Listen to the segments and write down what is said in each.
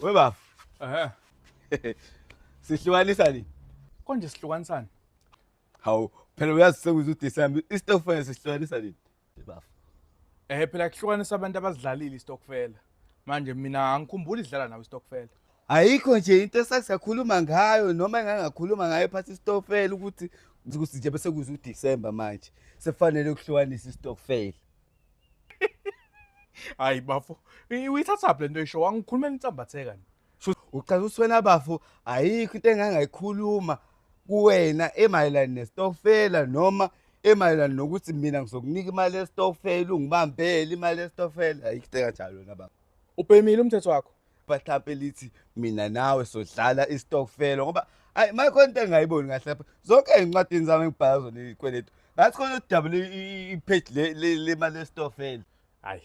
We baba. Ehhe. Sihlukanisa ni? Konje sihlukanisana. Hawu, phela uyazi sekuze uDecember, istofela sihlukanisa ni? bafo eh phela kuhlukanisa abantu abazidlalile istokfela manje mina angikhumbuli idlala nawe istokfela ayikho nje into esasiyakhuluma ngayo noma engangakhuluma ngayo phansi istokfela ukuthi ukuthi nje bese kuze uDecember manje sekufanele ukuhlukanisa istokfela hayi bafo uyithathaphi lento isho wangikhulumela insambatheka ni ucela uswena bafo ayikho into engangayikhuluma kuwena emayelana nestokfela noma emayelana nokuthi mina ngizokunika imali yestokfela ungibambele imali yestokfela ayikho into enganjalo yona baba ubhemile umthetho wakho bahlampe lithi mina nawe sodlala istokfela ngoba ayi mayikhona into engingayiboni kahle lapha zonke ey'ncwadini zami engibhala zona izikweletu ngathi khona ukudabula ipheji lemali yestokfela ayi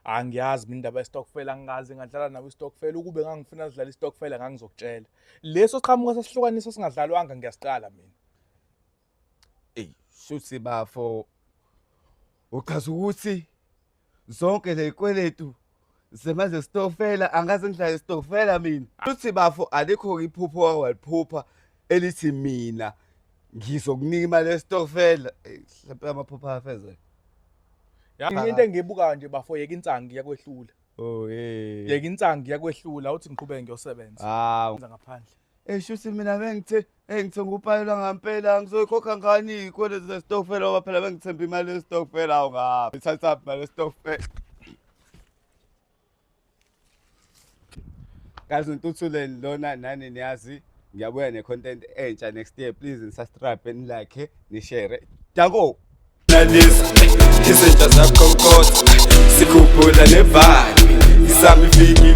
angiyazi mina indaba yestokfela angikaze ngadlala nawe istokfela ukube ngangifuna sidlala istokfela ngangizokutshela leso qhamuka sesihlukanisa singadlalwanga ngiyasiqala mina ey shuthi bafo uchaza ukuthi zonke lezikweletu zemanje stokfela angaze ngidlale stokfela mina shuthi bafo alikho iphupho waliphupha elithi mina ngizokunika imali yesitokfela mhlawumbe amaphupha afezeke yini into engibukayo nje bafo yeka insangu yakwehlula oh hey yeka insangu yakwehlula uthi ngiqhubeke ngiyosebenza hawu ngaphandle eshuthi eh, mina bengithe engithe eh, ngupayela ngampela ngizoyikhokha ngani ikwele zesitokfela ngoba phela bengithemba imali yesitokfela awu ngaphi ithathaphi imali yesitokfela Guys ngituthuleni lona nani niyazi ngiyabuya ne content entsha next year please nisubscribe ni like ni share. Dako. Nalisa izinja zakho kodwa sikhuphula ne vibe isami fikile